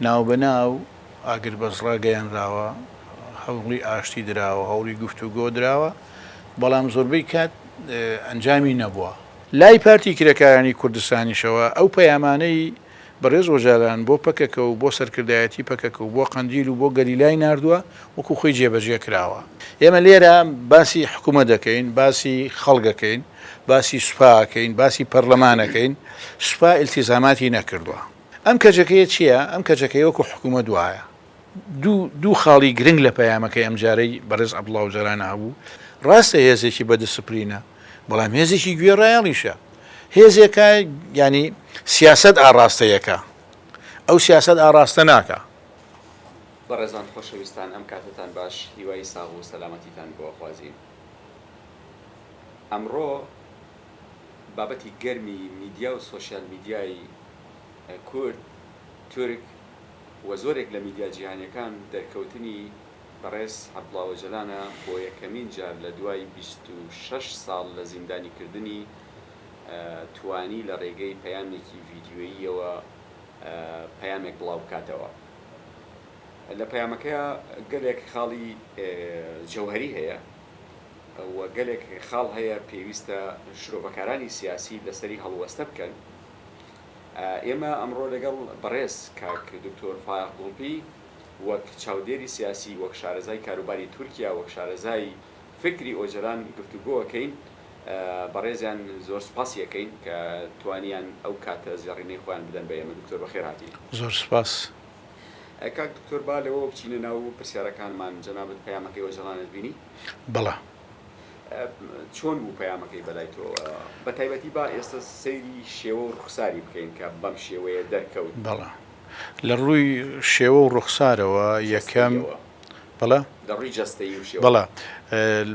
ناوبەناو ئاگربەست ڕاگەیەنراوە، هەوڵی ئاشتی دراوە، هەوڵی گفتوگۆ دراوە، بەڵام زۆربەی کات ئەنجامی نەبووە. لای پارتی کرێکارانی کوردستانیشەوە ئەو پەیامانەی بەڕێز ئۆجالان بۆ پەکەکە و بۆ سەرکردایەتی پەکەکە و بۆ قەندیل و بۆ گەریلای ناردووە، وەکو خۆی جێبەجێ کراوە. ئێمە لێرە باسی حکومەت ئەکەین، باسی خەڵک ئەکەین، باسی سوپا ئەکەین، باسی پەرلەمان ئەکەین، سوپا ئیلتیزاماتی نەکردووە. ئەم کەجەکەیە چییە؟ ئەم کەجەکەیە وەکو حکوومەت وایە دوو دوو خاڵی گرنگ لە پەیامەکەی ئەمجارەی بەڕێز عەبدوڵا ئۆجالان هەبوو، ڕاستە هێزێکی بە دسپلینە، بەڵام هێزێکی گوێڕایەڵیشە. هێزێکە یانی سیاسەت ئاڕاستەی ئەکا. ئەو سیاسەت ئاڕاستە ناکا. بەڕێزان خۆشەویستان ئەم کاتەتان باش هیوای ساغ و سەلامەتیتان بۆ ئەخوازین ئەمڕۆ. بابەتی گەرمی میدیا و سۆشیال میدیای کورد، تورک و زۆرێک لە میدیا جیهانیەکان دەرکەوتنی بەڕێز عەبدوڵا ئۆجەلانە بۆ یەکەمین جار لە دوای بیست و شەش ساڵ لە زیندانی کردنی توانی لە ڕێگەی پەیامێکی ڤیدیۆییەوە پەیامێک بڵاو بکاتەوە لە پەیامەکەیا گەلێک خاڵی جەوهەری هەیە. و گەلێک خاڵ هەیە پێویستە شرۆڤەکارانی سیاسی لەسەری هەڵوەستە بکەن. ئێمە ئەمڕۆ لەگەڵ بەڕێز کاک دکتۆر فایەق گوڵپی وەک چاودێری سیاسی، وەک شارەزای کاروباری تورکیا، وەک شارەزای فکری ئۆجەلان گفتوگۆ ئەکەین. بەڕێزیان زۆر سوپاسی ئەکەین کە توانیان ئەو کاتە زێڕینەی خۆیان بدەن بە ئێمە. دکتۆر بەخێرهاتی. زۆر سوپاس. کاک دکتۆر با لەوەوە بچینە ناو پرسیارەکانمان جەنابت پەیامەکەی ئۆجەڵانت بینی؟ بەڵێ. چۆن بوو پەیامەکەی بەلای تۆ؟ بە تایبەتی با ئێستا سەیری شێوە و ڕوخساری بکەین کە بەم شێوەیە دەرکەوت. بەڵێ. لە ڕووی شێوە و ڕوخسارەوە یەکەم. جەستەییەوە. بەڵێ؟ لە ڕووی جەستەیی و شێوە. بەڵێ.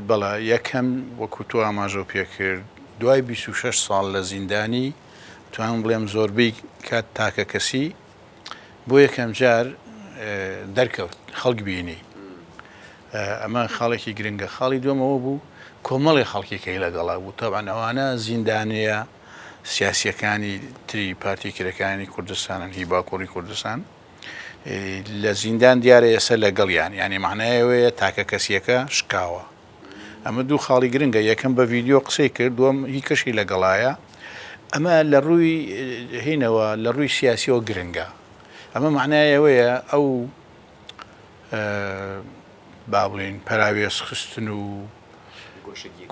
بەڵێ. یەکەم وەکوو تۆ ئاماژەو پێ کرد دوای بیست و شەش ساڵ لە زیندانی توانم بڵێم زۆربەی کات تاکەکەسی. بۆ یەکەم جار دەرکەوت خەڵک بینی ئەمە خاڵێکی گرنگە خاڵی دومەوە بوو کۆمەڵی خەڵکیکەی لەگەڵا بوو تاوان ئەوانە زیندانەیە سیاسیەکانی تری پارتی کرەکانی کوردستانن هی باکوڕی کوردستان لە زیندان دیارە ئێستا لەگەڵیان ینی معنایەوەیە تاکە کەسیەکە شکاوە ئەمە دوو خاڵی گرنگە یەکەم بە ڤیددیو قسەی کرد دوم هی کەشی لەگەڵایە ئەمە لە ڕووی هینەوە لە ڕووی سیاسیەوە گرنگە ئەمە معنای ئەوەیە ئەو با بڵین پەراوێز خستن و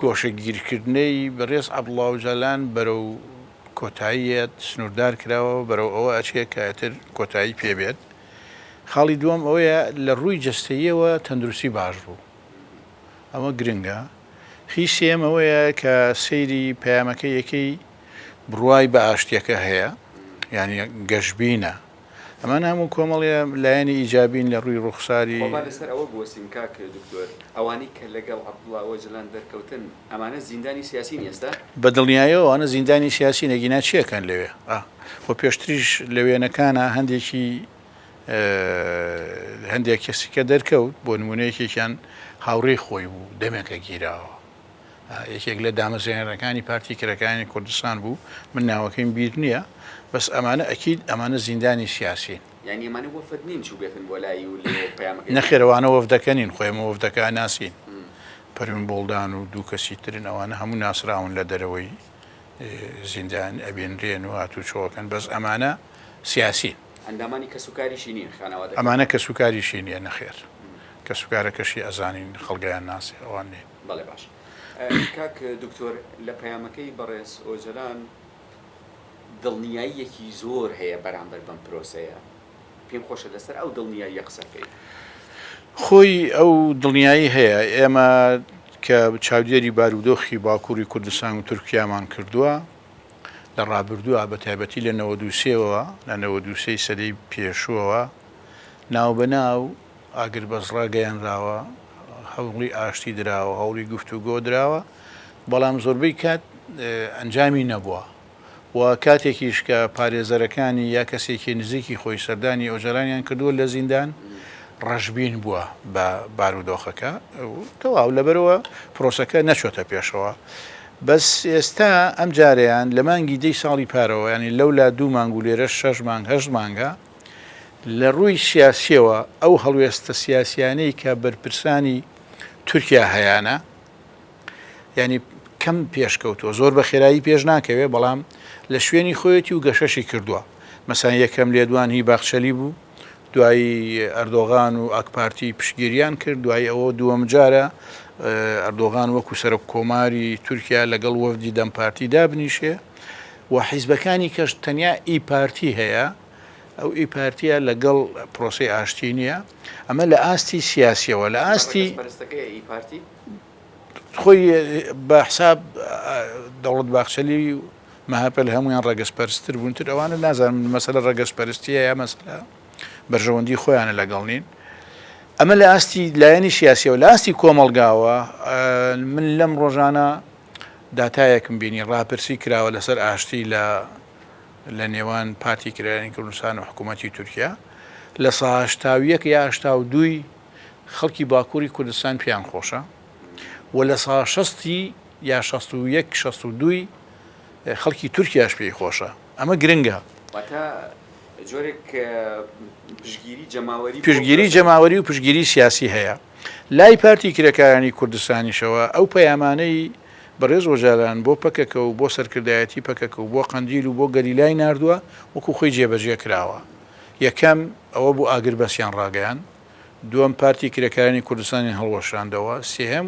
گۆشەگیرکردنەی بەڕێز عبڵاوجالان بەرەو کۆتاییەت سنووردار کراوە بەرەو ئەوە ئەچێ کەتر کۆتایی پێبێت خاڵی دووەم ئەوەیە لە ڕووی جستەیەوە تەندروستی باش بوو ئەمە گرنگە. هی سێیەم ئەوەیە کە سەیری پەیامەکە یەکەی بڕوای بە ئاشتیەکە هەیە یانی گەشبینە. ئەمانە هەموو کۆمەڵە لایەنی ئیجابین لە ڕووی ڕووخساری. خۆ با لەسەر ئەوە بوەستین کاک دکتۆر، ئەوانەی کە لەگەڵ عەبدوڵا ئۆجەلان دەرکەوتن ئەمانە زیندانی سیاسین ئێستا؟ بە دڵنیایەوە ئەوانە زیندانی سیاسین ئەگینا چیەکەن لەوێ؟ خۆ پێشتریش لە وێنەکانا هەندێکی. هەندێک کەسی کە دەرکەوت بۆ نمونە یەکێکیان هاوڕێی خۆی بوو دەمێکە گیراوە یەکێک لە دامەزێنەرەکانی پارتی کرەکانی کوردستان بوو من ناوەکەیم بیر نییە بەس ئەمانە ئەکیید ئەمانە زیندانی سیاسین نەخێرەوانە وەفدەکەنین خۆێمە وەفدەکە ناسین پەرون بۆڵدان و دوو کەسی ترن ئەوانە هەموو ناسراون لە دەرەوەی زیندان ئەبێنرێن و هاتوو چۆکەن بەس ئەمانە سیاسین ئەندامانی کەسوکاریشی نیە خانەوادەکەی؟ ئەمانە کەسوکاریشی نیە؟ نەخێر کەسوکارەکەشی ئەزانین خەڵگیان ناسی ئەوان نین. بەڵێ باشە کاک دکتۆر لە پەیامەکەی بەڕێز ئۆجەلان دڵنیاییەکی زۆر هەیە بەرامبەر بەم پرۆسەیە پێم خۆشە لەسەر ئەو دڵنیاییە قسە بکەیت. خۆی ئەو دڵنیایی هەیە ئێمە کە چاودێری بارودۆخی باکوری کوردستان و تورکیامان کردوە لە ڕابردووە بە تایبەتی لە نەوەد و سێ وە لە نەوەد و سێ ی سەدەی پێشووەوە ناوبەناو ئاگربەست ڕاگەیەنراوە هەوڵی ئاشتی دراوە هەوڵی گفتوگۆ دراوە بەڵام زۆربەی کات ئەنجامی نەبووە و کاتێکیش کە پارێزەرەکانی یا کەسێکی نزیکی خۆی سەردانی ئۆجەلانیان کردووە لە زیندان ڕەشبین بووە بە بارودۆخەکە تەواو لەبەرەوە پرۆسەکە نەچۆتە پێشەوە بەس ئێستا ئەم جارەیان لە مانگی دەی ساڵی پارەوە یانی لەولا دوو مانگ و لێرەش شەش مانگ هەشت مانگە لە ڕووی سیاسیەوە ئەو هەڵوێستە سیاسیانەی کە بەرپرسانی تورکیا هەیانە یانی کەم پێشکەوتووە زۆر بە خێرایی پێش ناکەوێ بەڵام لە شوێنی خۆیەتی و گەشەشی کردووە مەسان یەکەم لێدوان هی باخچەلی بوو دوایی ئەردۆغان و ئاکپارتی پشتگیریان کرد، دوای ئەوە دووەم جارە ئەردۆغان وەکو سەرۆک کۆماری تورکیا لەگەڵ وەفدی دەم پارتی دابنیشێ و حیزبەکانی کەش تەنیا ئی پارتی هەیە، ئەو ئی پارتیە لەگەڵ پرۆسەی ئاشتی نییە، ئەمە لە ئاستی سیاسیەوە لە ئاستی خۆی بە حساب دەوڵەت باخچەلی و. مەهەپە لە هەموویان ڕەگەز پەرستر بوون تر ئەوانە نازانم مەسەلە ڕەگەز پەرستیە یا مەسەلە بەرژەوەندی خۆیانە لەگەڵ نین ئەمە لە ئاستی لایەنی سیاسی و لاستی کۆمەلگاوە من لەم ڕۆژانە داتایەکم بینی ڕاپرسی کراوە لەسەر ئاشتی لە لە نێوان پارتی کرایانی کوردستان و حکوومەتتی تورکیا لە ساهشتاویەک یا هشتا و دووی خەڵکی باکووری کوردستان پێیان خۆشە و لە ساهشستی یان شەست و یەک شەست و دووی خەڵکی تورکیاش پێی خۆشە ئەمە گرنگە. واتە جۆرێک پشتگیری جەماوەری. پشتگیری جەماوەری و پشتگیری سیاسی هەیە. لای پارتی کرێکارانی کوردستانیشەوە ئەو پەیامانەی بەڕێز ئۆجالان بۆ پەکەکە و بۆ سەرکردایەتی پەکەکە و بۆ قەندیل و بۆ گەریلای ناردووە وەکو خۆی جێبەجێ کراوە. یەکەم ئەوە بوو ئاگربەستیان ڕاگەیاند. دووەم پارتی کرێکارانی کوردستانیان هەڵوەشاندەوە. سێهەم.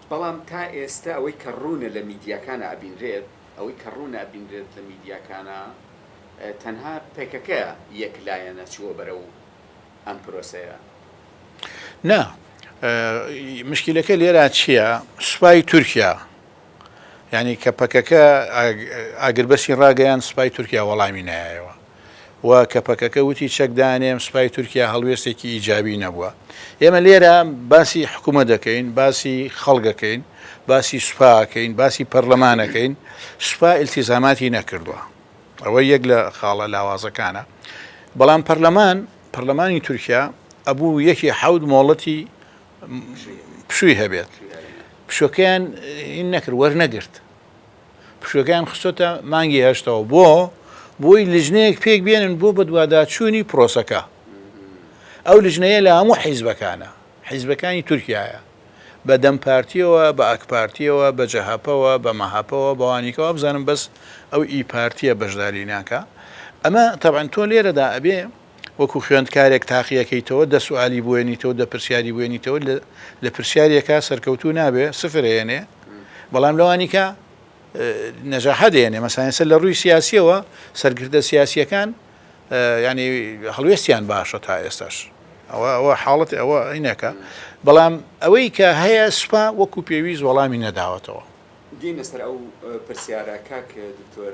بەڵام تا ئێستا ئەوەی کە ڕوونە لە میدیاکانا ئەبینرێت، ئەوەی کە ڕوونە ئەبینرێت لە میدیاکانا تەنها پەکەکە یەک لایەنە چووە بەرەو ئەم پرۆسەیە. نا، مشکیلەکە لێرا چییە، سوپای تورکیا، یانی کە پەکەکە ئاگربەسی ڕاگەیاند سوپای تورکیا وەڵامی نایەوە، و کە پەکەکە وتی چەک دانێم سوپای تورکیا هەڵوێستێکی ئیجابی نەبووە. ئێمە لێرە باسی حکومەت دەکەین، باسی خەڵک ئەکەین، باسی سوپا ئەکەین، باسی پەرلەمان ئەکەین، سوپا ئیلتیزاماتی نەکردووە. ئەوە یەک لە خاڵە لاوازەکانە. بەڵام پەرلەمان، پەرلەمانی تورکیا ئەبوو یەکی حەوت مۆڵەتی پشووی هەبێت. پشووەکەیان نەکرد، وەرنەگرت. پشووەکەیان خستۆتە مانگی هەشتەوە بۆ بۆی لژنەیەک پێک بێنن بۆ بەدواداچوونی پرۆسەکە ئەو لژنەیە لە هەموو حیزبەکانە حیزبەکانی تورکایە بە دەم پارتیەوە بە ئەکپارتیەوە بە جەهپەوە بە مەهپەوە بەوانیکەوە بزانم بەس ئەو ئی پارتیە بەشداری ناکە ئەمە تەبەن تۆ لێرەدا ئەبێ وەکو خوێندکارێک تاقیەکەیتەوە دە سوالی بوێنیتەوە دە پرسیاری بوێنیتەوە لە پرسیارێکە سەرکەوتوو نابێ سفر هێنێ بەڵام لەوانیکە نەجاحە دێنێ مەسانسە لە ڕووی سیاسیەوە سەرکردە سیاسیەکان ینی هەڵوێستیان باشە تا ئێستاش ئەوە ئەوە حاڵەت ئەوە عینەکە بەڵام ئەوەی کە هەیە سوپا وەکو پێویست وەڵامی نەداوەتەوە دینە سەر ئەو پرسیارە کاک دکتۆر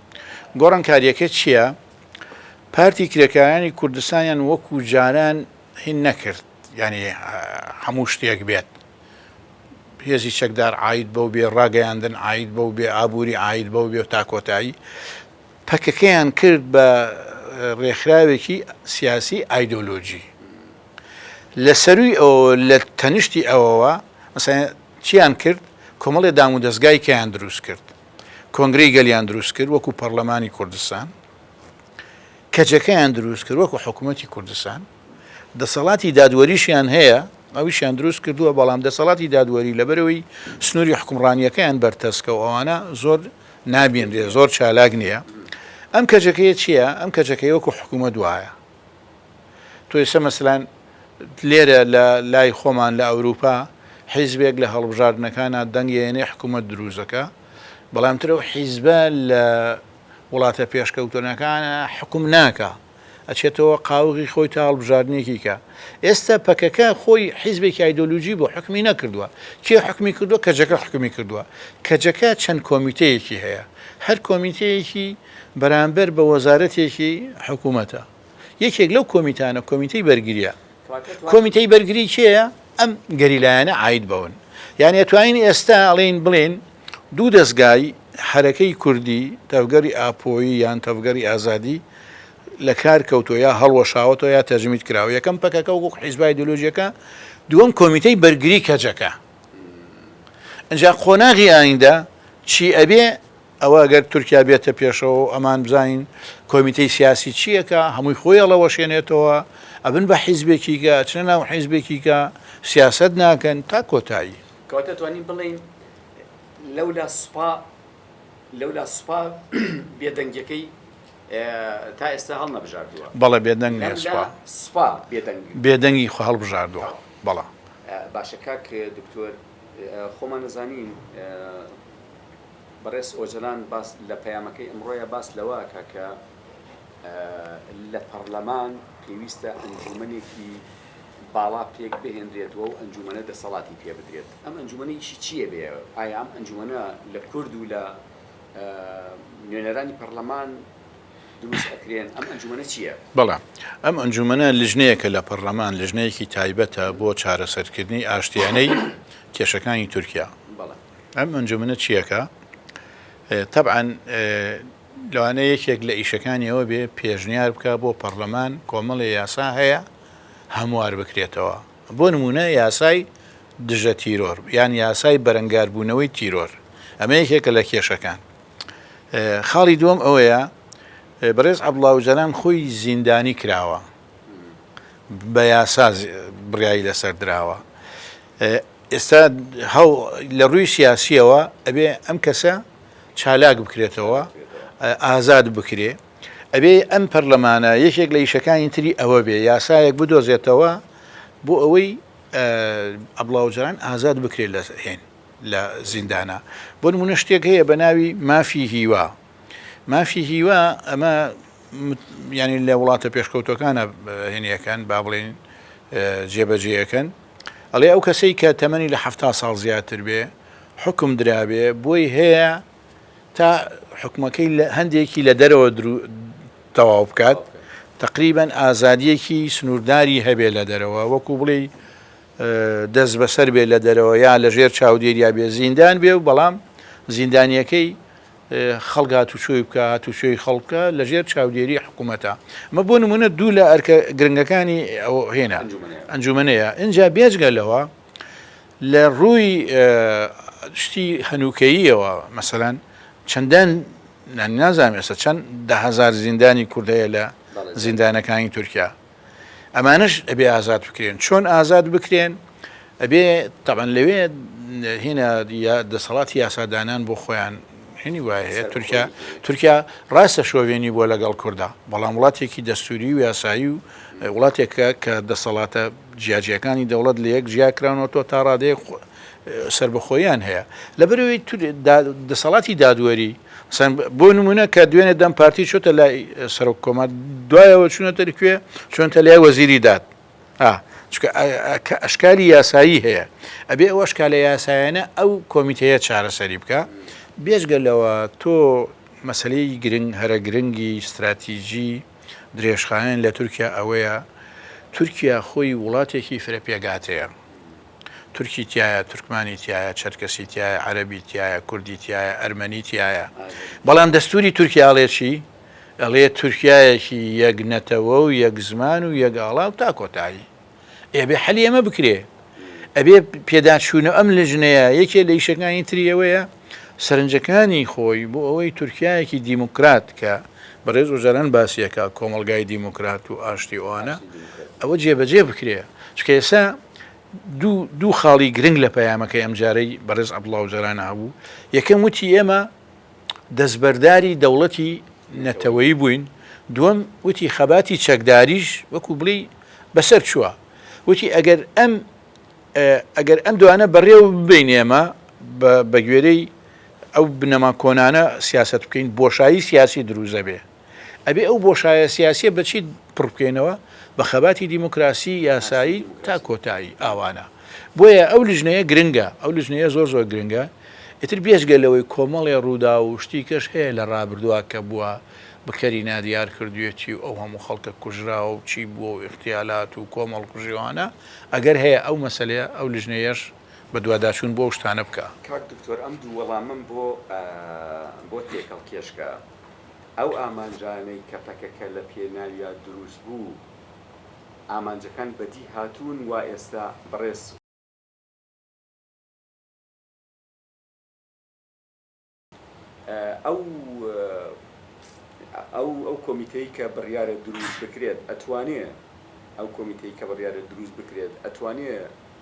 گۆڕانکاریەکە چیە؟ پارتی کرێکارانی کوردستانیان وەکو جاران هین نەکرد یانی هەموو شتێک بێت هێزی چەکدار عید بەو بێ ڕاگەیاندن عید بەو بێ ئابووری عید بەو بێ تا کۆتایی پەکەکەیان کرد بە ڕێکخراوێکی سیاسی ئایدۆلۆژی لە سەروی ئەو لە تەنیشتی ئەوەوە مەسەن چیان کرد کۆمەڵی دام و دەستگای کەیان دروست کرد کۆنگرەی گەلیان دروست کرد وەکو پەڕلەمانی کوردستان، کەجەکەیان دروست کرد وەکو حکومەتی کوردستان، دەسەڵاتی دادوەریشیان هەیە ئەویشیان دروست کردووە، بەڵام دەسەڵاتی دادوەری لەبەرەوەی سنووری حکومڕانیەکەیان بەرتەسکە و ئەوانە زۆر نابینرێ زۆر چالاک نییە، ئەم کەجەکەیە چییە؟ ئەم کەجەکەی وەکو حکومەت وایە. تۆ ئێستا مەسەلەن لێرە لە لای خۆمان لە ئەوروپا حیزبێک لە هەڵبژاردنەکانا دەنگ ئەیەنێ حکوومەت دروست دەکا بەڵام ترە و حیزبە لە وڵاتە پێشکەوتنەکانە حکوم ناکە ئەچێتەوە قاوغی خۆی تا هەڵبژاردنێکی کە ئێستا پەکەکە خۆی حیزبێکی ئایدۆلوژی بۆ حکمی نەکردووە کێ حکمی کردووە کەجەکە حکمی کردووە کەجەکە چەند کۆمیتەیەکی هەیە هەر کۆمیتەیەکی بەرامبەر بە وەزارەتێکی حکوومەتە. یەکێک لەو کۆمیتانە کۆمیتەی بەرگرییە. کۆمیتەی بەرگری کێیە؟ ئەم گەریلایانە عاید بەون. یانی ئەتوانین ئێستا ئەڵێین بڵێین دوو دەزگای حەرەکەی کوردی، تەڤگەری ئاپۆیی یان تەڤگەری ئازادی لە کار کەوتووە یا هەڵوەشاوەتەوە یا تەجمید کراوە. یەکەم پەکەکە وەکوو حیزبە ئایدۆلۆژییەکە، دووەم کۆمیتەی بەرگری کەجەکە. ئینجا قۆناغی ئایندە چی ئەبێ؟ ئەوە گەر تورکیا بێتە پێشەوە و ئەمان بزانین کۆمیتەی سیاسی چییەکە، هەمووی خۆی هەڵەوەشێنێتەوە، ئەبن بە حیزبێکیکە، ئەچنە ناو حیزبێکیکە، سیاسەت ناکەن تا کۆتایی. کەواتە توانین بڵێین لەولا سوپا لەولا سوپا بێدەنگیەکەی تا ئێستا هەڵنەبژاردووە. بەڵێ بێدەنگ نیە سوپا. لەملا سوپا بێدەنگ. بێدەنگی خۆ هەڵبژاردووە. تەواو. بەڵێ. باشە کاک دکتۆر خۆمان ئەزانین بەڕێز ئۆجەلان باس لە پەیامەکەی ئەمڕۆیە باس لەوە ئەکا کە لە پەڕلەمان پێویستە ئەنجوومەنێکی باڵا پێک بهێنرێت و ئەو ئەنجوومەنە دەسەڵاتی پێ بدرێت ئەم ئەنجوومەنە ئیشی چییە بێ ئایا ئەم ئەنجوومەنە لە کورد و لە نوێنەرانی پەڕلەمان دروست ئەکرێن ئەم ئەنجومەنە چییە؟ بەڵام ئەم ئەنجومەنە لژنەیەکە لە پەرلەمان لژنەیەکی تایبەتە بۆ چارەسەرکردنی ئاشتیانەی کێشەکانی تورکیا ئەم ئەنجومەنە چیەکە تەبعەن لەوانە یەکێک لە ئیشەکانی ئەوە بێ پێشنیار بکە بۆ پەرلەمان کۆمەڵی یاسا هەیە هەموار بکرێتەوە بۆ نمونە یاسای دژە تیرۆر یان یاسای بەرەنگاربوونەوەی تیرۆر ئەمە یەکێکە لە کێشەکان خاڵی دووەم ئەوەیە بەڕێز عبدڵاوجاران خۆی زیندانی کراوە بە یاسا بڕیایی لەسەر دراوە ئێستا لە ڕووی سیاسیەوە ئەبێ ئەم کەسە چالاک بکرێتەوە ئازاد بکرێ ئەبێ ئەم پەرلەمانە یەکێک لە یشەکانی تری ئەوە بێ یاسایەک بدۆزێتەوە بۆ ئەوەی ئەبڵاوجاران ئازاد بکرێت لە هێن لە زیندانە بۆ منە شتێک هەیە بە ناوی مافی هیوا مافی هیوا ئەمە ینی لە وڵاتە پێشکەوتەکانە هێنیەکەن با بڵین جێبەجێەکەن ئەڵێ ئەو کەسەی کە تەمەنی لە ه ساڵ زیاتر بێ حکم درابێ بۆی هەیە تا حکومەکەی لە هەندێکی لە دەرەوە تەواو بکات تقریبان ئازادیەکی سنوورداری هەبێ لە دەرەوە وەکو بڵێ دەست بەسەر بێ لە دەرەوە یا لەژێر چاودێریا بێ زیندان بێ و بەڵام زیندانیەکەی خەڵک هاتوچۆی بکا، هاتوچۆی خەڵک بکا لە ژێر چاودێری حکوومەتە. ئەمە بۆ نموونە دوو لە ئەرکە گرنگەکانی ئەو هێنا، ئەنجوومەنەیە. ئینجا بێجگە لەوە لە ڕووی شتی هەنووکەییەوە مەسەلەن چەندان نازانم ئێستا چەند دە هەزار زیندانی کورد هەیە لە زیندانەکانی تورکیا؟ ئەمانەش ئەبێ ئازاد بکرێن چۆن ئازاد بکرێن ئەبێ تەبەن لەوێ هێنا دەسەڵاتی یاسادانان بۆ خۆیان هێنی وایە هەیە تورکیا تورکیا ڕاستە شۆڤێنی بۆ لەگەڵ کووردا بەڵام وڵاتێکی دەستوری و یاسایی و وڵاتێکە کە دەسەڵاتە جیاجیەکانی دەوڵەت لە یەک جیاکراونەوە تۆ تا ڕادەیە سربەخۆیان هەیە لە بەرەوەی دەسەڵاتی دادوەری مەسەلەن بۆ نموونە کە دوێنێ دەم پارتی چۆتە لای سەرۆک کۆمار دوایەوە چوونەتە کوێ چۆنتە لای وەزیری داد چکە ئەشکالی یاسایی هەیە ئەبێ ئەو ئەشکالە یاسایەنە ئەو کۆمیتەیە چارەسەری بکە بێژگە لەوە تۆ مەسلەی گرنگ هەرە گرنگی استراتیژی درێژخایەن لە تورکیا ئەوەیە تورکیا خۆی وڵاتێکی فرە پێگاتەیە تورکی تیایە، تورکمانی تیایە، چەرکەسی تیایە، عەرەبی تیایە، کوردی تیایە، ئەرمەنی تیایە. بەڵام دەستووری تورکیا ئەڵێ چی؟ ئەڵێ تورکیایەکی یەک نەتەوە و یەک زمان و یەک ئاڵا و تا کۆتایی. ئێ ئەبێ حەلی ئەمە بکرێ. ئەبێ پێداچوونەوە ئەم لیژنەیە یەکێ لە ئیشەکانی تری ئەوەیە سەرنجەکانی خۆی بۆ ئەوەی تورکیایەکی دیموکرات کە بەڕێز ئۆجالان باسیەکە کۆمەڵگای دیموکرات و ئاشتی ئەوانە ئەوە جێبەجێ بکرێ چکە ئێسا دوو خاڵی گرنگ لە پەیامەکەی ئەمجارەی بەڕێز عەبدوڵا ئۆجالان هەبوو، یەکەم وتی ئێمە دەستبەرداری دەوڵەتی نەتەوەیی بووین، دووەم وتی خەباتی چەکداریش وەکو بڵێی بەسەر چووە، وتی ئەگەر ئەم ئەگەر ئەم دوانە بەڕێوە ببەین ئێمە بەگوێرەی ئەو بنەما کۆنانە سیاسەت بکەین بۆشایی سیاسی دروست دەبێ. ئەبێ ئەو بۆشایە سیاسیە بە چی پڕ بکەینەوە؟ بە خەباتی دیموکراسی یاسایی تا کۆتایی ئاوانە. بۆیە ئەو لیژنەیە گرنگە، ئەو لیژنەیە زۆر زۆر گرنگە. ئیتر بێجگە لەوەی کۆمەڵێ ڕووداو و شتی کەش هەیە لە ڕابردووە کە بووە بکەری نادیار کردوویەتی و ئەو هەموو خەڵکە کوژراوە و چی بووە و ئیغتیالات و کۆمەڵکوژی و ئەوانە ئەگەر هەیە ئەو مەسەلەیە ئەو لیژنەیەش بەدواداچوون بۆ ئەو شتانە بکا. کاک دکتۆر ئەم دوو وەڵامەم بۆ بۆ تێکەڵ کێشکە. ئەو ئامانجانەی کە پەکەکە لە پێناویا دروست بوو ئامانجەکان بەدی هاتوون وا ئێستا بەڕێز ئەو ئەو ئەو کۆمیتەی کە بڕیارە دروست بکرێت ئەتوانێ ئەو کۆمیتەی کە بڕیارە دروست بکرێت ئەتوانێ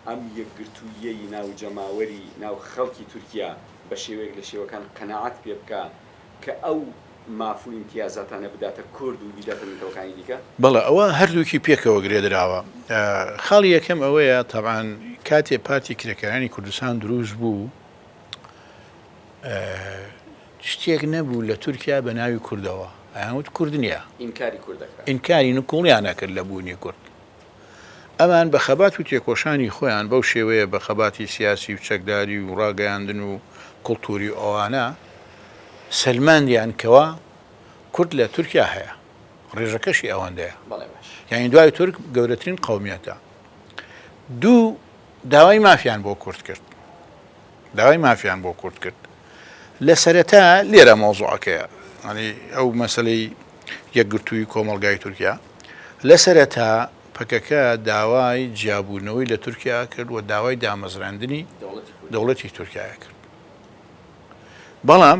ئەم یەکگرتووییەی ناو جەماوەری ناو خەڵکی تورکیا بە شێوەیەک لە شێوەکان قەناعەت پێ بکا کە ئەو ماف و ئیمتیازاتانە بداتە کورد و بیداتە نەتەوەکانی دیکە؟ بەڵێ، ئەوە هەردووکی پێکەوە گرێدراوە. خاڵی یەکەم ئەوەیە تەبعەن کاتێ پارتی کرێکارانی کوردستان دروست بوو، شتێک نەبوو لە تورکیا بە ناوی کوردەوە، ئەیانوت کورد نییە. ئینکاری کورد دەکرا. ئینکاری نکوڵیان ئەکرد لە بوونی کورد. ئەمان بە خەبات و تێکۆشانی خۆیان بەو شێوەیە بە خەباتی سیاسی و چەکداری و ڕاگەیاندن و کڵتووری و ئەوانە سەلماندیان کەوا کورد لە تورکیا هەیە ڕێژەکەشی ئەوەندەیە یانی دوای تورک گەورەترین قەومیەتە دوو داوای مافیان بۆ کورد کرد. داوای مافیان بۆ کورد کرد لە سەرەتا لێرە مەوزوعەکەیە ئەنی ئەو مەسلەی یەکگرتووی کۆمەلگای تورکیا لە سەرەتا پەکەکە داوای جیابوونەوەی لە تورکیا کرد و داوای دامەزراندنی دەوڵەتی تورکایە کرد بەڵام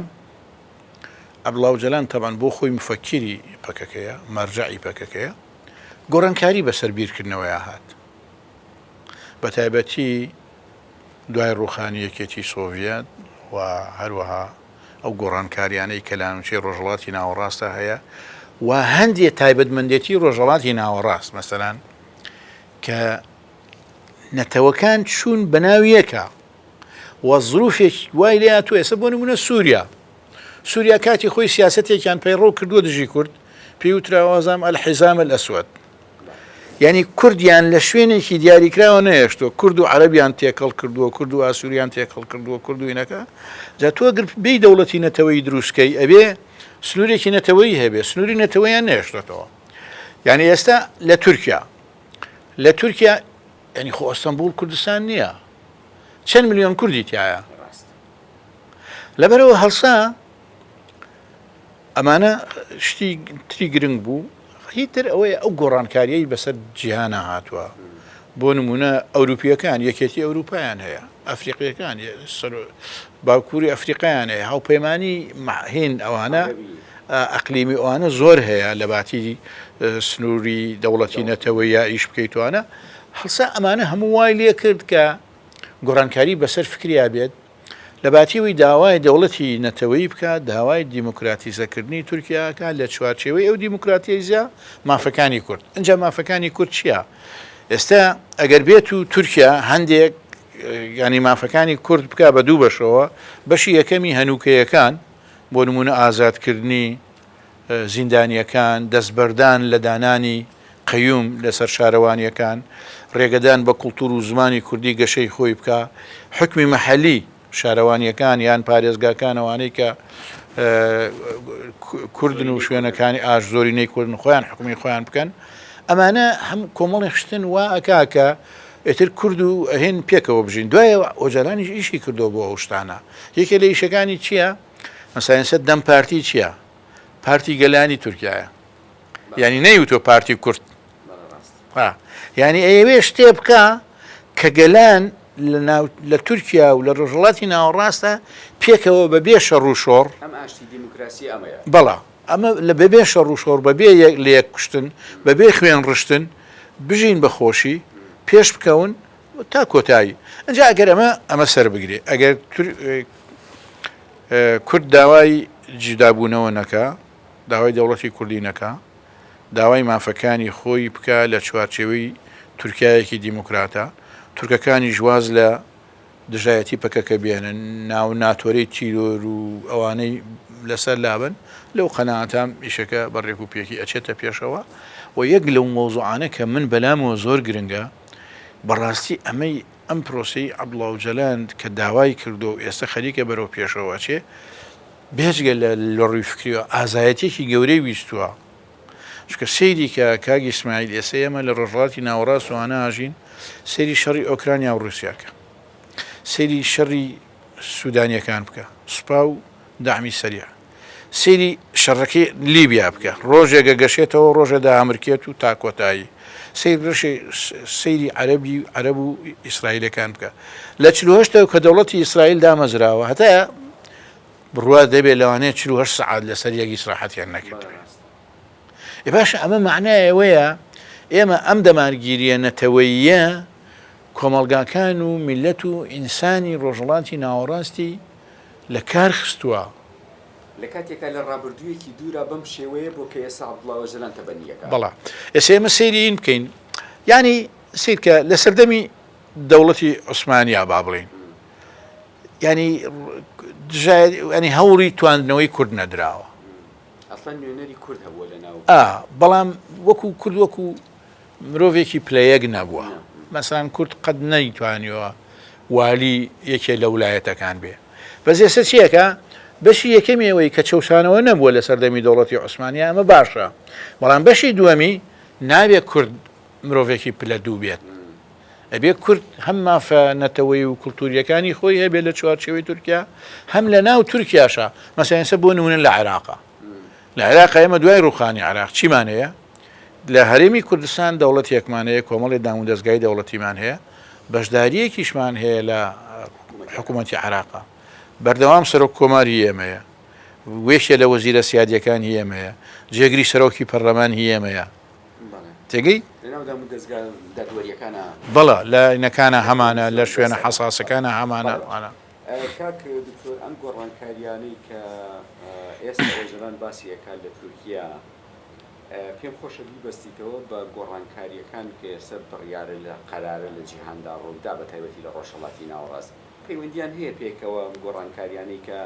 ئەبلاوجلان تەبان بۆ خۆی مفەکیری پەکەکەیە مەرجعی پەکەکەیە گۆڕانکاری بەسەر بیرکردنەوەیە هات بە تایبەتی دوای ڕووخانی یەکێتیی سۆڤیەت و هەروەها ئەو گۆڕانکارییانەی کە لە ناوچەی ڕۆژهەڵاتی ناوەڕاستدا هەیە و هەندێ تایبەتمەندێتیی ڕۆژهەڵاتی ناوەڕاست، مەسەلەن کە نەتەوەکان چوون بە ناو یەکا و زرووفێک وای لێ هاتووە، ئێستا بۆ نموونە سووریا، سووریا کاتی خۆی سیاسەتێکیان پەیڕەو کردووە دژی کورد، پێی وتراوە زعم الحزام الاسود. یانی کوردیان لە شوێنێکی دیاریکراوە نەهێشتووە، کورد و عەرەبیان تێکەڵ کردووە، کورد و ئاسووریان تێکەڵ کردووە، کورد و ئینەکە، جا تۆ گەر بێی دەوڵەتی نەتەوەیی دروست کەی ئەبێ سنوورێکی نەتەوەیی هەبێ، سنووری نەتەوەیان نەهێشتۆتەوە. یانی ئێستا لە تورکیا، لە تورکیا یانی خۆ ئەستەنبووڵ کوردستان نییە، چەند ملیۆن کوردی تایە. لەبەرەوە هەڵسا ئەمانە شتی تری گرنگ بوو هیتر ئەوەیە ئەو گۆڕانکاریی بەسەر جیهانە هاتووە بۆ نمونە ئەوروپیەکان یەکێتی ئەوروپایان هەیە ئەفریقیەکان باکووری ئەفریقایان هەیە هاوپەیمانانی ماهین ئەوانە ئەقلیمی ئەوانە زۆر هەیە لە باتی سنووری دەوڵەتی نەتەوە یا ئیش بکەیتوانە هەڵسا ئەمانە هەموو وای لێ کرد کە گۆڕانکاری بەسەر فکریا بێت لەباتی ئەوەی داوای دەوڵەتی نەتەوەیی بکات، داوای دیموکراتیزەکردنی تورکیا ئەکات لە چوارچێوەی ئەو دیموکراتیزە مافەکانی کورد. ئینجا مافەکانی کورد چییە؟ ئێستا ئەگەر بێت و تورکیا هەندێک یانی مافەکانی کورد بکا بە دوو بەشەوە، بەشی یەکەمی هەنووکەیەکان بۆ نمونە ئازادکردنی زیندانییەکان، دەستبەردان لە دانانی قەیوم لەسەر شارەوانییەکان، رێگەدان بە کولتوور و زمانی کوردی گەشەی خۆی بکا، حوکمی مەحەلی، شارەوانییەکان یان پارێزگاکان ئەوانەی کە کوردن و شوێنەکانی ئاش زۆرینەی کوردن خۆیان حوکمی خۆیان بکەن، ئەمانە هەم کۆمەڵێ شتن وا ئەکا کە ئیتر کورد و هیند پێکەوە بژین. دوایە ئۆجالانیش ئیشی کردووە بۆ ئەو شتانە. یەکێ لە ئیشەکانی چییە؟ مەسەلەنسە دەم پارتی چیە پارتی گەلانی تورکایە یعنی نەیوتۆ پارتی کورد یعنی ئەوێ شتێ بکە کە گەلان لە تورکیا و لە ڕۆژڵاتی ناوەڕاستە پێکەوە بە بێ شەڕ و شۆڕ بەڵا ئەمە لە بەبێ شەڕ و شۆڕ بەبێ یەک لە یەک کوشتن بەبێ خوێن ڕشتن بژین بە خۆشی پێش بکەون تا کۆتایی ئنجا ئەگەر ئەمە ئەمە سەر بگرێ ئەگەر کورد داوای جودابوونەوە نەکا داوای دەوڵەتی کوردی نەکا داوای مافەکانی خۆی بکە لە چوارچێوەی تورکایەکی دیموکراتە تورکەکانیش واز لە دژایەتی پەکەکە بێنن ناو ناتۆرەی تیرۆر و ئەوانەی لەسەر لابن لەو قەناتام ئیشەکە بەڕێک و پێکی ئەچێتە پێشەوە و یەک لەو مۆزوعانە کە من بەلامەوە زۆر گرنگە بەڕاستی ئەمەی ئەم پرۆسەی عەبدوڵاوجەلان کە داوای کردووە و ئێستا خەریکە بەرەو پێشەوە ئەچێ، بێجگە لە لەڕووی فکریەوە ئازایەتیەکی گەورەی ویستووە. چونکە سەیری کە کاک ئیسماعیل ئێستا ئێمە لە ڕۆژهەڵاتی ناوەڕاست و هانا ئاژین، سەیری شەڕی ئۆکرانیا و ڕووسیا کە. سەیری شەڕی سودانیەکان بکە، سوپا و دەعمی سەریع. سەیری شەڕەکەی لیبیا بکە ڕۆژێک ئەگەشێتەوە ڕۆژێ دامرکێت و تا کۆتایی سەیر بشێ سەیری عەرەبی عەرەب و ئیسرائیلەکان بکە لە چل و هەشتەوە کە دەوڵەتی ئیسرائیل دامەزراوە هەتا بڕوات دەبێت لەوانەیە چل و هەشت سەعات لەسەر یەک ئیسراحەتیان نەکردوێت ئێ باشە ئەمە معنای ئەوەیە ئێمە ئەم دەمارگیریە نەتەوەیە کۆمەڵگاکان و میلەت و ئینسانی ڕۆژهڵاتی ناوەڕاستی لە کار خستووە. لە کاتێکا لە ڕابردوویەکی دوورا بەم شێوەیە بووە کە ئێستا عەبدوڵا ئۆجەلان تەبەنییەکە. بەڵا ئێستا ئێمە سەیری این بکەین یانی سیر کە لە سەردەمی دەوڵەتی عوسمانیا با بڵێین یانی دژای یانی هەوڵی تواندنەوەی کورد نەدراوە. ئەسڵەن نوێنەری کورد هەبووە لە ناو. ئا بەڵام وەکوو کورد وەکوو. مرۆڤێکی پلە یەک نەبووە مەسەن کورد قەت نەیتوانیوە والی یەکێ لە ولایەتەکان بێ بەس ئێستا چیەکە بەشی یەکەمی ئەوەی کە چەوسانەوە نەبووە لە سەردەمی دەوڵەتی عوسمانیا ئەمە باشە بەڵام بەشی دووەمی ناوێ کورد مرۆڤێکی پلە دوو بێت ئەبێ کورد هەم مافە نەتەوەی و کللتوریەکانی خۆی هەبێت لە چوارچەوەی تورکیا هەم لە ناو تورکیاشە مەسەنسە بۆ نمونە لە عێراقا لە عێراق ئێمە دوای ڕووخانی عێراق چیمان هەیە؟ لە هەرێمی کوردستان دەوڵەتێکمان هەیە، کۆمەڵی دامودەزگای دەوڵەتیمان هەیە، بەشدارییەکیشمان هەیە لە حکوومەتی عێراق. بەردەوام سەرۆک کۆمار هی ئێمەیە، یەکێ لە وەزیرە سیادییەکان هی ئێمەیە، جێگری سەرۆکی پەرلەمان هی ئێمەیە. تێگەی؟ بەڵێ، لە ئاینەکانا هەمانە، لە شوێنە حەساسەکانا هەمانە. کاک دکتۆر ئەم گۆڕانکاریانەی کە ئێستا ئۆجەلان باسی ئەکات لە تورکیا پێم خۆشە بیبەستیتەوە بە گۆڕانکاریەکان کە ئێستا بڕیارە لە قەرارە لە جیهاندا ڕوویدا بە تایبەتی لە ڕۆژهەڵاتی ناوەڕاست پەیوەندیان هەیە پێکەوە ئەم گۆڕانکاریانەی کە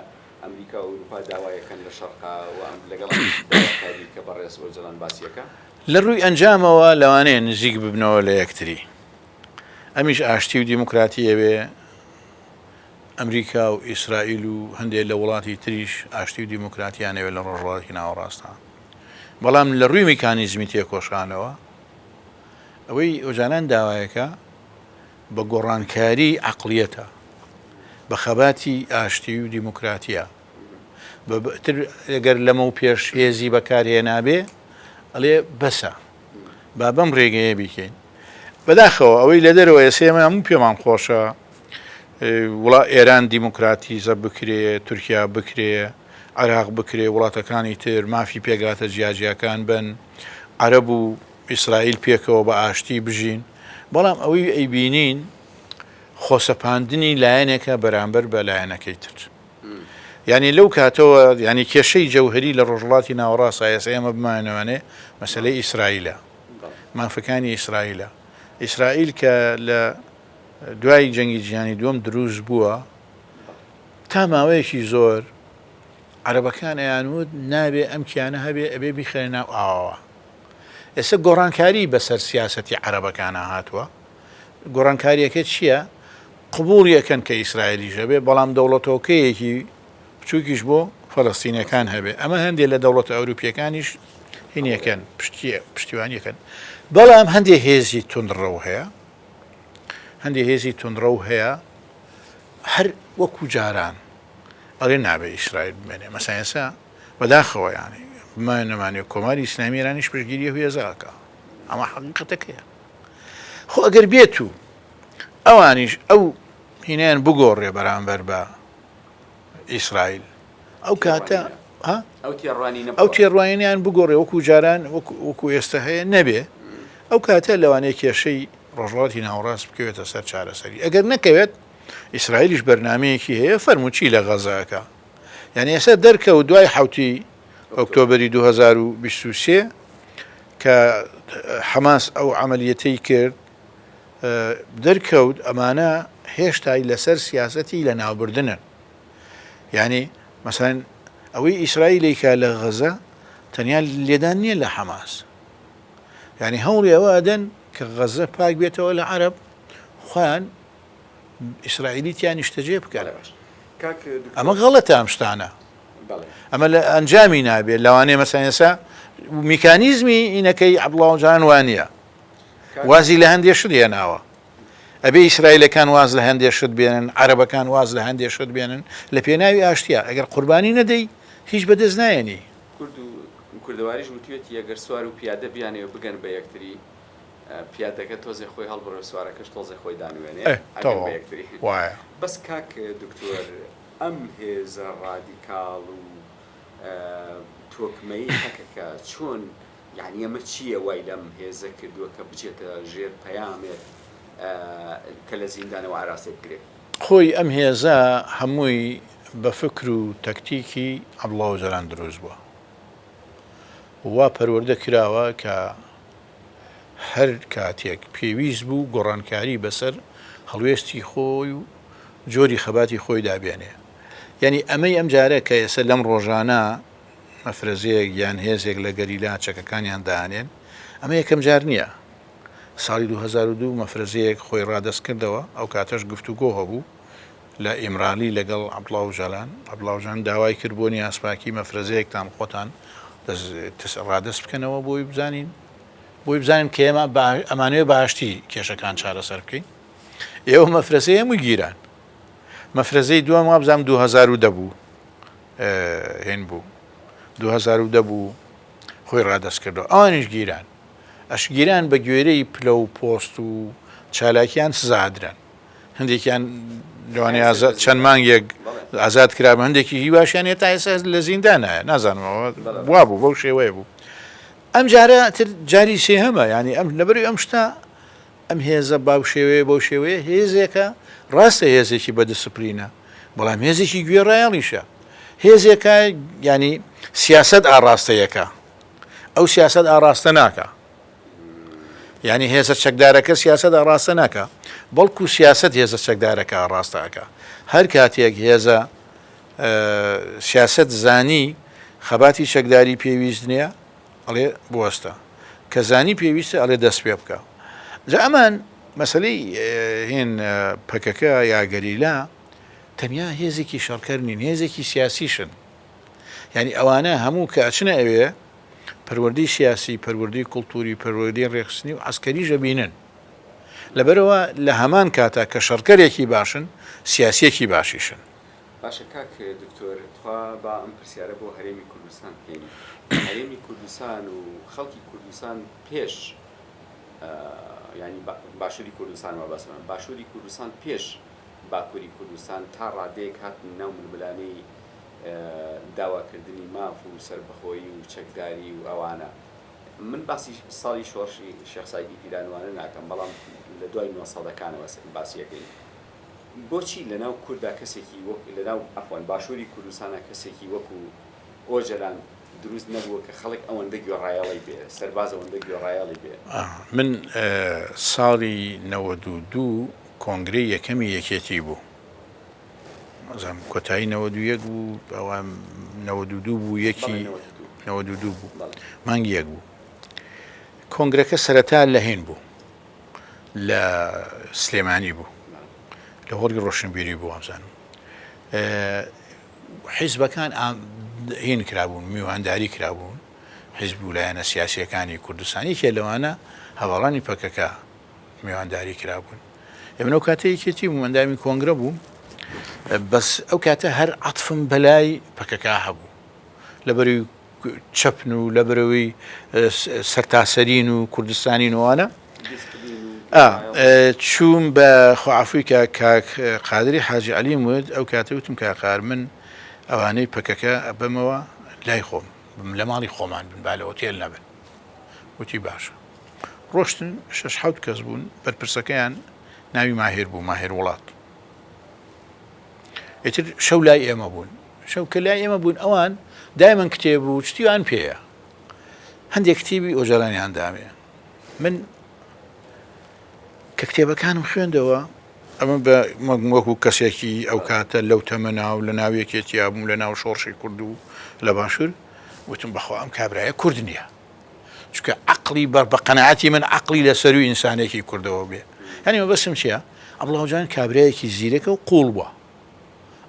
ئەمریکا و ئەوروپا داوایەکەن لە شەرقا و ئەم لەگەڵ داواکاری کە بەڕێز ئۆجەلان باسیەکە لە ڕووی ئەنجامەوە لەوانەیە نزیک ببنەوە لە یەکتری ئەمیش ئاشتی و دیموکراتی ئەوێ. ئەمریکا و ئیسرائیل و هەندێ لە وڵاتی تریش ئاشتی و دیموکراتیان ئەوێ لە ڕۆژهەڵاتی ناوەڕاستە بەڵام لە ڕووی میکانیزمی تێکۆشانەوە ئەوەی ئۆجالان داوایەکە بە گۆڕانکاری عقلیەتە بە خەباتی ئاشتی و دیموکراتیە بەتر ئەگەر لەمە و پێش هێزی بەکارهێنابێ ئەڵێ بەسە با بەم ڕێگەیە بیکەین. بەداخەوە ئەوەی لە دەرەوە ئێسێ ئێمە هەموو پێمان خۆشە وڵا ئێران دیموکراتیزە بکرێ، تورکیا بکرێ، عێراق بکرێ، وڵاتەکانی تر مافی پێکهاتە جیاجیاکان بن، عەرەب و ئیسرائیل پێکەوە بە ئاشتی بژین، بەڵام ئەوەی ئەیبینین خۆسەپاندنی لایەنێکە بەرامبەر بە لایەنەکەی تر. یانی لەو کاتەوە یانی کێشەی جەوهەری لە ڕۆژهەڵاتی ناوەڕاستە ئێستا ئێمە بمانەوانێ مەسەلەی ئیسرائیلە مافەکانی ئیسرائیلە ئیسرائیل کە لە دوای جەنگی جیهانی دووەم دروست بووە تا ماوەیەکی زۆر عەرەبەکان ئەیانوت نابێ ئەم کیانە هەبێ ئەبێ بیخرێ ناو ئاوەوە ئێستا گۆڕانکاری بەسەر سیاسەتی عەرەبەکانە هاتووە گۆڕانکاریەکە چیە؟ قبوڵی ئەکەن کە ئیسرائیلیش هەبێ بەڵام دەوڵەتۆکەیەکی بچوکیش بۆ فەلەستینەکان هەبێ ئەمە هەندێ لە دەوڵەتە ئەوروپیەکانیش هینیەکەن پشتیە پشتیوانیەکەن بەڵام هەندێ هێزی تونڕەو هەیە هەندێ هێزی تونڕەو هەیە هەر وەکو جاران ئەڵێ نابێ ئیسرائیل بمێنێ مەسایسا بەداخەوە یانی مانەمانێ کۆماری ئیسلامیرانیش پشگیری هێزاکە ئەمە حقیقەتەکەیە خۆ ئەگەر بێت و ئەوانیش ئەو هینیان بگۆڕێ بەرامبەر بە ئیسرائیل ئەو کاتە ئەو تێڕوانینیان بگۆڕێ وەکو جاران وەکو ئێستا هەیە نەبێ ئەو کاتە لەوانەیە کێشەی ڕۆژڵاتی ناوڕاست بکەوێتە سەر چارەسەری ئەگەر نەکەوێت ئیسرائیلیش بەرنمەیەکی هەیە فەرموچی لە غەزەکە یعنی ئێستا دەرکە و دوای حوتی ئۆکتۆبەری دوو هەزار و بیست و سێ کە حەماس ئەو عەمەلیەتەی کرد دەرکەوت ئەمانە هێشتای لەسەر سیاسەتی لە ناوبردنن یعنی مەسەن ئەوەی ئیسرائیلێکە لە غەزە تەنیا لێدان نییە لە حەماس یعنی هەوڵی ئەوە ئەدەن کە غەزە پاک بێتەوە لە عرب خۆیان ئیسرائیلی تیا نیشتەجێ بکەن ئەمە غەڵەتە ئەم شتانە ئەمە لە ئەنجامی نابێت لەوانەیە مەسەن ئێسا میکانیزمی ئینەکەی عبڵاوجان وانە وازی لە هەندێ شت هێناوە ئەبێ ئیسرائیلەکان واز لە هەندێ شت بێنن عربەکان واز لە هەندێ شت بێنن لە پێناوی ئاشتیا ئەگەر قوربانی نەدەی هیچ بەدەست نایەنی کوردەواریش وتوێتی ئەگەر سوار و پیادە بیانێ و بگەن بە یەکتری پیادەکە تۆزێ خۆی هەڵبڕێ سوارەکەش تۆزێ خۆی دانوێنێ بەس کاک دکتۆر ئەم هێزە ڕادیکاڵ و تۆکمەی پەکەکە چۆن یانی ئەمە چییە وای لەم هێزە کردووە کە بچێتە ژێر پەیامێک کە لە زیندانەوە ئاراستەی بکرێت؟ خۆی ئەم هێزە هەمووی بە فکر و تەکتیکی عەبدوڵا ئۆجالان دروست بووە و وا پەروەردە کراوە کە هەر کاتێک پێویست بوو گۆڕانکاری بەسەر هەڵوێستی خۆی و جۆری خەباتی خۆیدا بێنێ. یانی ئەمەی ئەم جارە کە ئێسە لەم ڕۆژانە مەفرەزەیەک یان هێزێک لە گەریلا چەکەکانیان دانێن، ئەمە یەکەم جار نییە. ساڵی دوو هەزار و دوو مەفرەزەیەک خۆی ڕادەست کردەوە، ئەو کاتەش گفتوگۆ هەبوو لە ئیمرالی لەگەڵ عەبدوڵا ئۆجالان، عەبدوڵا ئۆجالان داوای کرد بۆ نیازپاکی مەفرەزەیەکتان خۆتان ڕادەست بکەنەوە بۆی بزانین بۆی بزانین کە ئێمە ئەمانەوێ بە ئاشتی کێشەکان چارەسەر بکەین ئێوە مەفرەزەی هەموو گیران مەفرەزەی دووەم وابزانام 2010 بوو هێن بوو 2010 بوو خۆی ڕادەست کردو ئەوانیش گیران ئەشگیران بە گوێرەی پلە و پۆست و چالاکیان سزادران هەندێکیان لەوانەیە ئازاد چەند مانگێک ئازاد کرا بە هەندێکی هیواشیان هێ تا ئێستا لە زیندانایە نازانمەوە وا بوو بەو شێوەیە بوو ئەم جارە تر جاری سێ هەمە ینی ئەم لەبەری ئەم شتا ئەم هێزە باو شێوەیە بۆ شێوەیە هێزێکە ڕاستە هێزێکی بە دسپلینە بەڵام هێزێکی گوێ ڕایەڵیشە هێزێکە ینی سیاست ئاڕاستەیەەکە ئەو سیاست ئاڕاستە ناکە یعنی هێزە چەکدارەکە سیاسەت ئاڕاستە ناکە بەڵکو سیاست هێزە چەکدارەکە ئاڕاستەکە هەر کاتێک هێزە سیاست زانی خەباتی چەکداری پێویست نییە ئەڵێ بوەستە کە زانی پێویستە ئەڵێ دەست پێ بکە جا ئەمان مەسلەی هێن پەکەکە یاگەریلا تەنیا هێزێکی شەڕکەر نین هێزێکی سیاسیشن یانی ئەوانە هەموو کە ئەچنە ئەوێ پەروەردەی سیاسی پەروەردەی کولتوری پەروەردەی ڕێخستنی و ئەسکەری ژەبینن لەبەرەوە لە هەمان کاتا کە شەڕکەرێکی باشن سیاسیەکی باشیشن باشە کاک دکتۆر تخوا با ئەم پرسیارە بۆ هەرێمی کوردستان بکەین هەرێمی کوردستان و خەڵکی کوردستان پێش ینی باشووری کوردستان وە بەسمان باشووری کوردستان پێش باکووری کوردستان تا ڕادەیەک هاتن ناو ململانەی داواکردنی ماف و سەربەخۆیی و چەکداری و ئەوانە. من باسی ساڵی شۆڕشی شێخ سەعیدی پیرانوانە ناکەم، بەڵام لە دوای نۆ سەدەکانەوە باسی ئەکەین. بۆچی لە ناو کوردا کەسێکی وەک، لە ناو عەفوەن باشووری کوردستانا کەسێکی وەکو ئۆجەلان دروست نەبووە کە خەڵک ئەوەندە گوێڕایەڵی بێ، سەرباز ئەوەندە گوێڕایەڵی بێ؟ من ساڵی نەوەد و دوو کۆنگرەی یەکەمی یەکێتی بوو. نازانم کۆتایی نەوەد و یەک بوو ئەوە نەوەد و دوو بوو یەکی نەوەد و دوو بوو مانگی یەک بوو کۆنگرەکە سەرەتا لە هێن بوو لە سلێمانی بوو لە هۆڵی ڕۆشنبیری بوو ئەمزانم حیزبەکان هین کرابوون میوانداری کرابوون حیزب و لایەنە سیاسیەکانی کوردستانیکێ لەوانە هەواڵانی پەکەکە میوانداری کرابوون ئێمە ئەو کاتە یەکێتی بوو ئەندامی کۆنگرە بوو بەس ئەو کاتە هەر عاتفم بەلای پەکەکە هەبوو لە بەری چەپن و لە برەوەی سەرتاسەرین و کوردستانی نوانە چووم بە خۆعافوی کە کاک قادری حاجی علیم ود ئەو کاتە وتم کا قار من ئەوانەی پەکەکە ئەبەمەوە لای خۆم لە ماڵی خۆمان بن با لە ئۆتێل نەبن وتی باشە ڕۆشتن شەش حەوت کەس بوون بەرپرسەکەیان ناوی ماهر بوو ماهر وڵات ئیتر شەو لای ئێمە بوون شەو کە لای ئێمە بوون ئەوان دایمەن کتێب و شتیوان پێەیە هەندێک کتێبی ئۆجارانیان دامێ من کە کتێبەکانم خوێندەوە ئەمە بە مەگموەکو کەسێکی ئەو کاتە لەو تەمەنا و لە ناوێکێتیابووم لە ناو شۆڕشی کورد و لە باشوور وتم بەخوا ئەم کابراە کورد نییە چونکە عەقڵی بە بە قەناعەتی من عەقڵی لە سەرووی ئینسانێکی کوردەوە بێ یانی مەبەستم چییە؟ عەبڵاو جان کابرایەکی زیرەکە و قووڵ بووە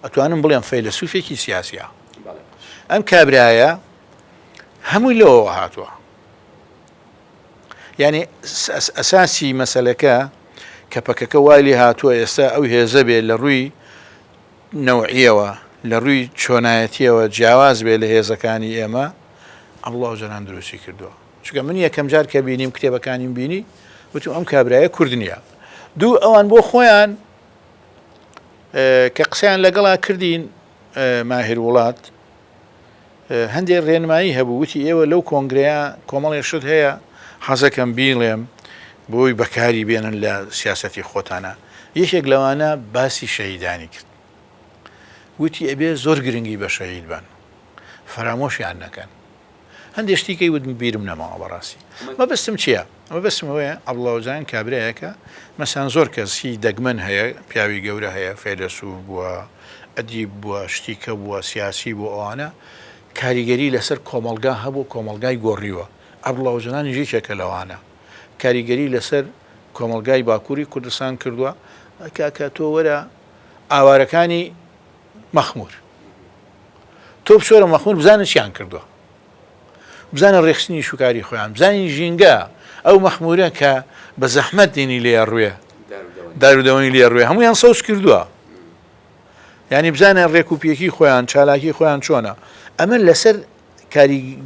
ئەتوانم بڵێم فەیلەسووفێکی سیاسییە ئەم کابرایە هەمووی لەوەوە هاتووە یعنی ئەساسی مەسلەکە کە پەکەکە وای لێ هاتووە ئێستا ئەو هێزە بێ لە ڕووی نەوعیەوە لە ڕووی چۆنایەتیەوە جیاواز بێ لە هێزەکانی ئێمە عەبدوڵا ئۆجالان دروستی کردووە چونکە من یەکەم جار کە بینیم کتێبەکانیم بینی وتم ئەم کابرایە کورد نییە دوو ئەوان بۆ خۆیان کە قسەیان لەگەڵا کردین ماهر وڵات هەندێک ڕێنمایی هەبوو وتی ئێوە لەو کۆنگرەیە کۆمەڵی شت هەیە حەزەکەم بیڵێم بۆی بەکاری بێنن لە سیاستی خۆتانە یەکێک لەوانە باسی شەهیدانی کرد وتی ئەبێ زۆر گرنگی بە شەهید بەن فەرامۆشیان نەکەن هەندێ شتی کەی وتم بیرم نەماوە بەڕاستی مەبەستم چییە ئەمە بەسم ئەوەیە ئەبڵاوجان کابراایەکە مەسان زۆر کەسی دەگمەن هەیە پیاوی گەورە هەیە فەیلەسوف بووە ئەدیب بووە شتیکە بووە سیاسی بۆ ئەوانە کاریگەری لەسەر کۆمەلگا هەبوو کۆمەلگای گۆڕیوە ئەبڵاوجنان ژیچێکە لەوانە کاریگەری لەسەر کۆمەلگای باکووری کوردستان کردووە کاکە تۆ وەرە ئاوارەکانی مەخمور تۆ بچۆرە مەخمور بزانە چیان کردووە بزانە ڕێخستنی شوکاری خۆیان بزانین ژینگە ئەو مەخمورە کە بە زەحمەت دێنی لێ ڕوێ دارودەوەنی لێ ڕوێ هەمویان سەوز کردووە ینی بزانە ڕێکوپیەکی خۆیان چالاکی خۆیان چۆنە ئەمە لەسەر کاری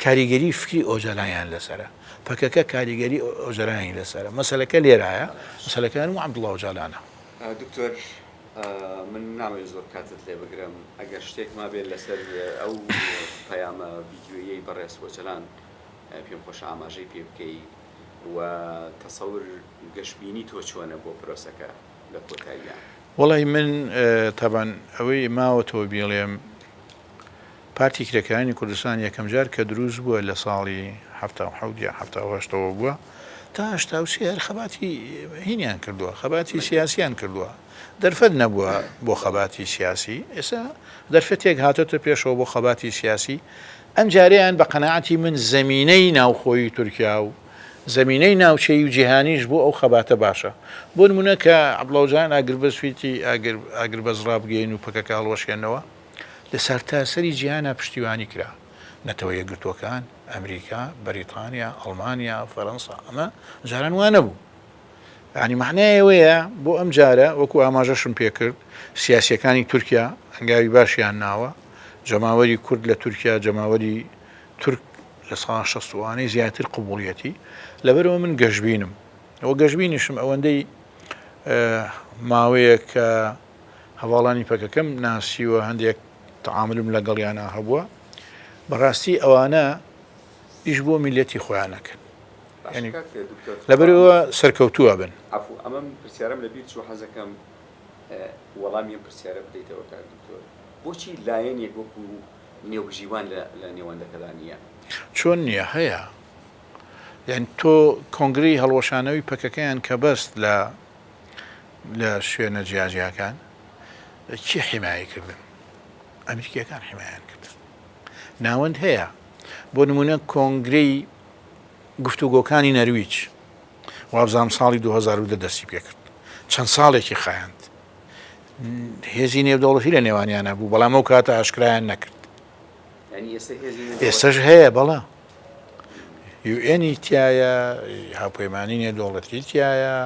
کاریگەری فکری ئۆجەلانیان لەسەرە، پەکەکە کاریگەری ئۆجەلانیانی لەسەرە، مەسەلەکە لێرایە، مەسەلەکە هەر عەبدوڵا ئۆجالانە. دکتۆر من نامەوێت زۆر کاتت لێ بگرم ئەگەر شتێک مابێت لەسەر ئەو پەیامە ڤیدیۆییەی بەڕێز ئۆجەلان پێم خۆشە ئاماژەی پێ بکەی و تەسەور گەشبینی تۆ چۆنە بۆ پرۆسەکە لە کۆتاییا؟ وەڵای من تەبعەن ئەوەی ماوەتەوە بیڵێم، پارتی کرێکارانی کوردستان یەکەم جار کە دروست بووە لە ساڵی حەفتا و حەوت یان حەفتا و هەشتەوە بووە تا هەشتا و سێ هەر خەباتی هینیان کردووە خەباتی سیاسیان کردووە دەرفەت نەبووە بۆ خەباتی سیاسی ئێستا دەرفەتێک هاتۆتە پێشەوە بۆ خەباتی سیاسی ئەمجارەیان بە قەناعەتی من زەمینەی ناوخۆی تورکیا و زەمینەی ناوچەی و جیهانیش بۆ ئەو خەباتە باشە بۆ نمونە کە عەبدڵاوجان ئاگربەس فیتی ئاگر ئاگربەس ڕابگەین و پەکەکە هەڵوەشێنەوە. لە سەرتاسەری جیهانا پشتیوانی کرا، نەتەوە یەکگرتووەکان، ئەمریکا، بەریتانیا، ئەڵمانیا، فەرەنسا، ئەمە جاران وا نەبوو. یانی مەعنای ئەوەیە بۆ ئەم جارە وەکو ئاماژەشم پێ کرد سیاسیەکانی تورکیا هەنگاوی باشیان ناوە، جەماوەری کورد لە تورکیا جەماوەری تورک لە ساڵا شەستووانەی زیاتر قبوڵیەتی، لەبەرئەوە من گەشبینم و گەشبینیشم ئەوەندەی ماوەیەکە هەڤاڵانی پەکەکەم ناسیوە هەندێک تەعامولم لەگەڵیانا هەبووە بەڕاستی ئەوانە ئیش بۆ میلەتی خۆیان نەکەن ینی لەبەرەوە سەرکەوتووە بن ئەفو ئەمەم پرسیارم لە بیر چوو حەزەکەم وەڵامی ئەم پرسیارە بدەیتەوە کاک دکتۆر بۆچی لایەنێک وەکو نێوبژیوان لە نێوەندەکەدا نییە چۆن نییە هەیە یان تۆ کۆنگری هەڵوەشانەوەی پەکەکەیان کە بەست لە لە شوێنە جیاجیاکان چی حیمایە کردن ئەمریکیەکان حیمایان کردن ناوەند هەیە بۆ نمونە کۆنگرەی گفتوگۆکانی نەرویج وابزانام ساڵی 2010 دەستی پێکرد چەند ساڵێکی خایاند هێزی نێودەوڵەتی لە نێوانیانە بوو بەڵام ئەو کاتە ئاشکرایان نەکرد ئێستش هەیە بەڵام یوئێنی تیایە هاوپەیمانی نێودەوڵەتی تیایە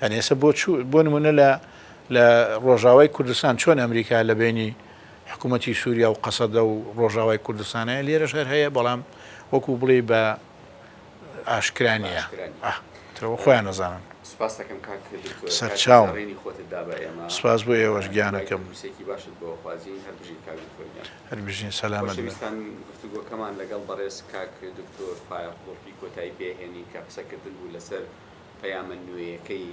یعنی ئێستا بۆ بۆ نمونە لە لە ڕۆژاوای کوردستان چۆن ئەمریکا لە بینی حکوومەتتی سووریا و قەسەدە و ڕۆژاوای کوردستانەیە لێرە شەر هەیە بەڵام وەکو بڵێ بە ئاشکرانیە تەوە خۆیان نەزانن سپاسەکەم کاک سەرچاو سپاس بۆ ئێوەش گیانەکەم باشت بۆ خوازیین هەر بژین کاک هەر بژین سەلامەت بن. خۆشەویستان گفتوگۆکەمان لەگەڵ بەڕێز کاک دکتۆر فایەق بۆفی کۆتایی پێ هێنی کە قسەکردن بوو لەسەر پەیامە نوێیەکەی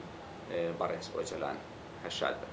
بەڕێز ئۆجەلان. هەر شاد بن.